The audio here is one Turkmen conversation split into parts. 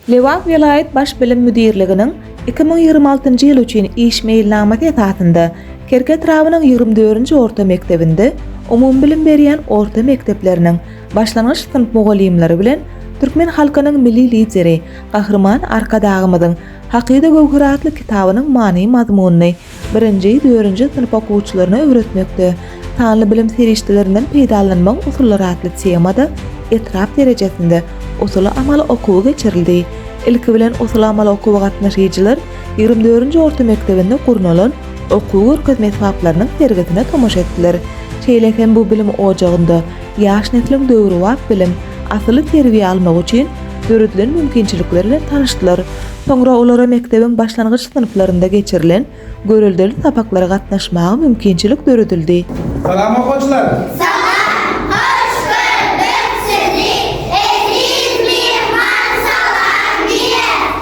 Lebap welaýat Baş bilim müdirliginiň iki müň ýigrimi altynjy ýyl üçin iş meýilnamasy esasynda Kerki etrabynyň ýigrimi dördünji orta mekdebinde umumybilim berýän orta mekdepleriniň başlangyç synp mugallymlary bilen Türkmen halkynyň Milli Lideri Gahryman Arkadagymyzyň Hakyda göwher atly kitabynyň many-mazmunyny Birinji, dördünji synp okuwçylaryna öwretmekde sanly bilim serişdelerinden peýdalanmagyň usullary atly temada etrap derejesinde usuly-amaly okuwy geçirildi. Ilki bilen, usuly-amaly okuwa gatnaşyjylar ýigrimi dördünji orta mekdebinde gurnalan okuw-görkezme esbaplarynyň sergisine tomaşa etdiler. Şeýle hem bu bilim ojagynda Ýaş nesliň döwrebap bilim, asylly terbiýe almagy üçin döredilen mümkinçilikler bilen tanyşdylar. Soňra olara mekdebiň başlangyç synplarynda geçirilen göreldeli sapaklara gatnaşmaga mümkinçilik döredildi. Salam okyjylar! Salam! Hoş gördük sizi! Eziz myhman salam diýer!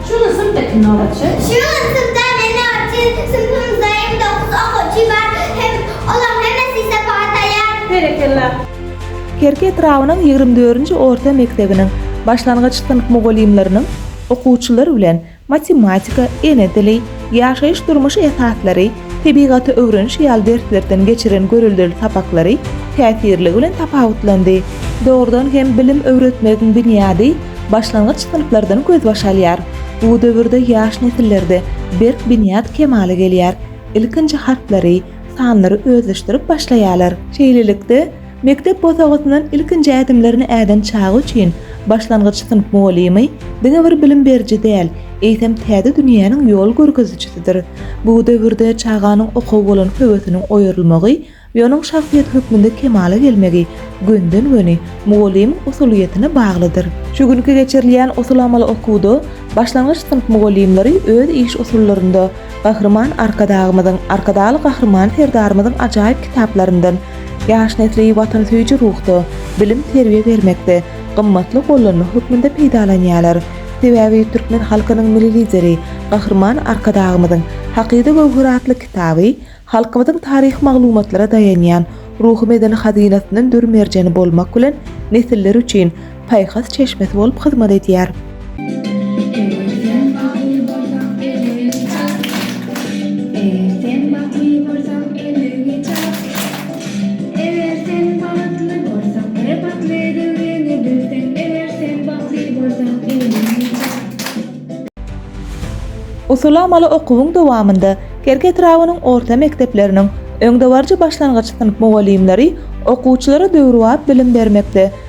Şunuň synpda kim nobatçy? Şunuň synpda men nobatçy. Synpymyzda ýigrimi dokuz okuwçy bar hem olaryň hemmesi sapyga taýýar. Berekella. Kerki etrabynyň ýigrimi dördünji orta mekdebiniň başlangyç synp mugallymlarynyň okuwçylar bilen matematika, ene dili, ýaşaýyş-durmuş esaslary, Tebigaty öwreniş ýaly derslerden geçiren göreldeli sapaklary täsirligi bilen tapawutlandy. Dogrudan hem bilim öwretmegiň binýady başlangyç synplardan gözbaş alýar. Bu döwürde ýaş nesillerde berk binýat kemala gelýär. Ilkinji harplary, sanlary özleşdirip başlaýarlar. Şeýlelikde, Mekdep bosagasyndan ilkinji ädimlerini äden çaga üçin başlangyç synp mugallymy diňe bir bilim beriji däl, eýsem täze dünýäniň ýol görkezijisidir. Bu döwürde çaganyň okuwa bolan höwesiniň oýarylmagy we onuň şahsyýet hökmünde kemala gelmegi gönden-göni mugallymyň usulyýetine baglydyr. Şu günki geçirilýän usuly-amaly okuwda başlangyç synp mugallymlary öz iş usullarynda Gahryman Arkadagymyzyň, Arkadagly Gahryman Serdarymyzyň ajaýyp kitaplaryndan, Ýaş nesli watansöýüji ruhda, bilim-terbiýe bermekde gymmatly gollanma hökmünde peýdalanýarlar. Sebäbi türkmen halkynyň Milli Lideri Gahryman Arkadagymyzyň Hakyda göwher atly kitaby halkymyzyň taryhy maglumatlara daýanýan ruhy-medeni hazynasyndan dür merjeni bolmak bilen nesiller üçin paýhas çeşmesi bolup hyzmat edýär. Usulamaly okuwyň dowamynda Kerki etrabynyň orta mekdepleriniň öňdebaryjy başlangyç synp mugallymlary okuwçylara döwrebap bilim bermekde,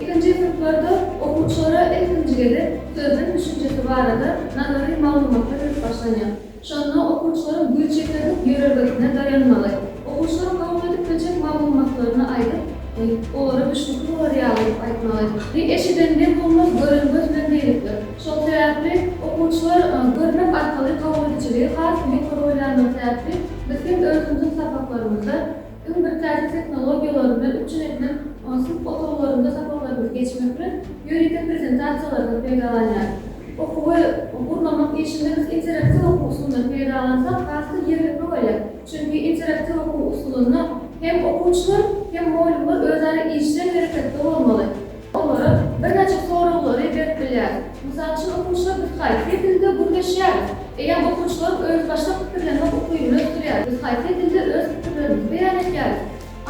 Ikinji synplarda okuwçylara ilkinji gezek sözlem düşünjesi barada nazary maglumatlar berip başlanýar. Şonda okuwçylaryň güýç ýeterlik ýörelgesine daýanmagy, okuwçylaryň kabul edip biljek maglumatlaryny aýdyp, olara düşnükli bolar ýaly edip aýtmagy we eşiden nem bolmaz, gören göz bilen birlikdir. Şol sebäpli okuwçylar görmek arkaly kabul edijiligi has-da ýokary bolýandygy sebäpli biz hem özümiziň sapaklarymyzda, Iň bir täze tehnologiýalary bilen üpjün edilen synp otaglarynda sapaklarymyzy geçmek bilen, ýörite prezentasiýalardan peýdalanýarys. Okuwy gurnamak işinde biz interaktiw okuw usulyndan peýdalansak has-da ýerlikli bolýar. Çünki interaktiw okuw usulynda hem okuwçylar, hem mugallymlar özara işjeň hereketde bolmaly. Olara birnäçe soraglary berip bilýäris. Mysal üçin, okuwçylar biz haýsy dilde gürleşýäris? Eýýäm okuwçylaryň özbaşdak pikirlenmek ukybyny ösdürýäris. Biz haýsy dilde öz pikirlerimizi beýan edýäris?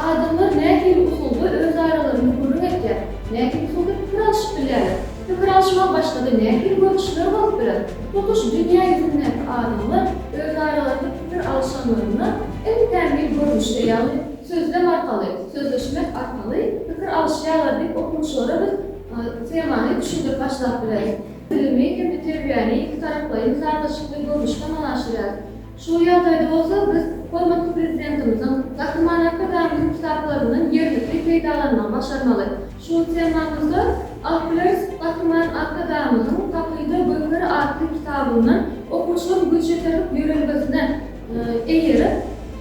Adamlar nähili usulda öz aralarynda gürrüň edýär? Nähili usulda pikir alşyp bilýärler? Pikir alşygyň başga-da nähili görnüşleri bolup biler? Tutuş dünýä ýüzündäki adamlar öz aralarynda pikir alyşanlarynda iň kämil görnüşde, ýagny, Sözlem arkaly, sözleşmek arkaly pikir alyşýarlar diýip okuwçylara biz temany düşündirip başlap bileris. Bilimi hem-de terbiýäni ikitaraplaýyn sazlaşykly görnüşde amala aşyrýarys. Şu ýagdaýda bolsa biz hormatly Prezidentimiziň Gahry Many programmanyň kitaplaryndan ýerlikli peýdalanmagy başarmaly. Şu temamyzda alyp bileris, Gahry Many Arkadagymyzyň Pakyda göwher atly kitabyndan okuwçylaryň güýç ýeterlik ýörelgesine, Eger,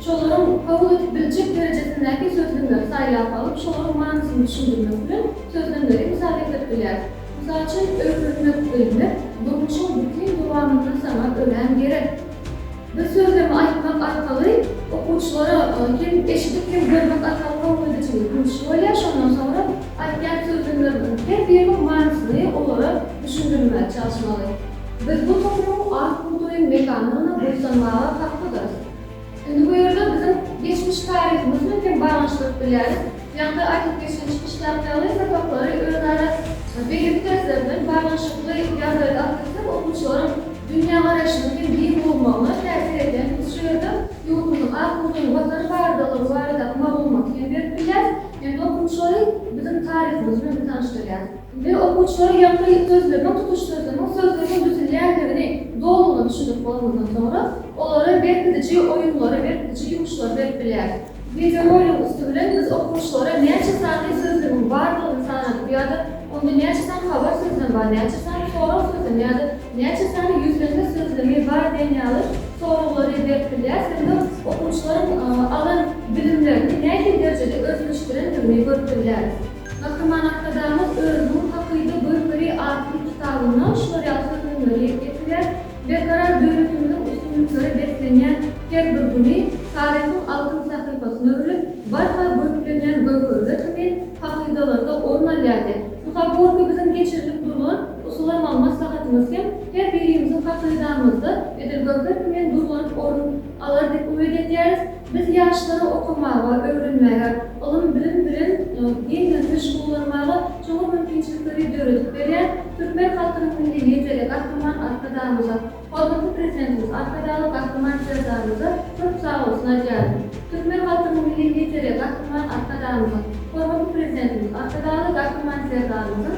şolaryň kabul edip biljek derejesindäki sözlemleri saýlap alyp, şolaryň manysyny düşündirmek bilen sözlemleri mysal getirip bilýäris. Mysal üçin, öwrenmek, bilmek, durmuşyň bütin dowamynda saňa örän gerek. Biz sözlemi aýtmak arkaly okuwçylara hem eşidip, hem görmek arkaly kabul edijiligi güýçli bolýar, şondan soňra aýtýan sözlemlerimiziň her biriniň manysyny olara düşündirmäge çalyşmaly. Biz bu toplumyň ak bugdaýyň mekanyna buýsanmaga haklydyrys. Indi bu ýerde biziň geçmiş taryhymyz bilen hem baglanyşdyryp bilýäris. Ýanda aýdyp geçen çykyşdaky ýaly, sapaklary özara belli dersler bilen baglanyşykly ýagdaýda alyp gitmek okuwçylaryň dünýägaraýşynyň hem giň bolmagyna täsir edýär. Biz şu ýerde ýurdumyzyň ak bugdaýyň Watany baradalygy baradaky maglumaty hem berip bilýäris, hem-de okuwçylary biziň taryhymyz bilen tanyşdyrýarys. we okuwçylara ýapyry sözlemeň tutuş sözlemeň sözleriň düzülýändigini dolugyna düşündirip bolanyndan soňra, olara berkidiji oýunlary, berkidiji ýumuşlary berip bilýäris. Wideoroligiň üsti bilen biz okuwçylara näçe sany sözlemeň bardygyny sanadyp ýa-da onda näçe sany habar sözlem bar, näçe sany sorag sözlemi ýa-da näçe sany ýüzlenme sözlemi bar diýen ýaly soraglary berip bilýäris hem-de okuwçylaryň alan bilimlerini nähili derejede özleşdirendigini görüp bilýäris. Gahryman Arkadagymyz özüniň Hakyda görkeri atly kitabynda şular ýaly sözlemleri ýetik getirýär, Berkarar döwletimiziň üstünlikleri beslenýän her bir güni taryhyň altyn sahypasyna öwrülip, barha görklenýän göwherler kimi hakydalarda orun alýar diýip, bu pogorka biziň geçirilip durlan usulamag maslahatymyz hem her birimiziň hakydamyzda edil göwher kimin duzlanyp orun Alar diýip umyt edýäris. Biz ýaşlary okamaga, öwrenmäge, ylym-bilim bilen giňden meşgullanmaga çuňňur mümkinçilikleri döredip berýän türkmen halkynyň Milli Lideri Gahryman Arkadagymyza, hormatly Prezidentimiz Arkadagly Gahryman Serdarymyza köp sagbolsun aýdýaryn. Türkmen halkynyň Milli Lideri Gahryman Arkadagymyzyň, hormatly Prezidentimiz Arkadagly Gahryman Serdarymyzyň,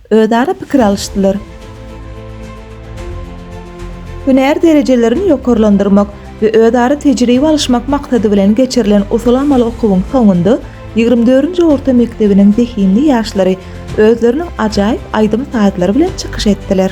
özara pikir alyşdylar. Hünär derejelerini ýokarlandyrmak we özara tejribe alyşmak maksady bilen geçirilen usuly-amaly okuwyň soňunda ýigrimi dördünji orta mekdebiniň zehinli ýaşlary özleriniň ajaýyp aýdym-sazlary bilen çykyş etdiler.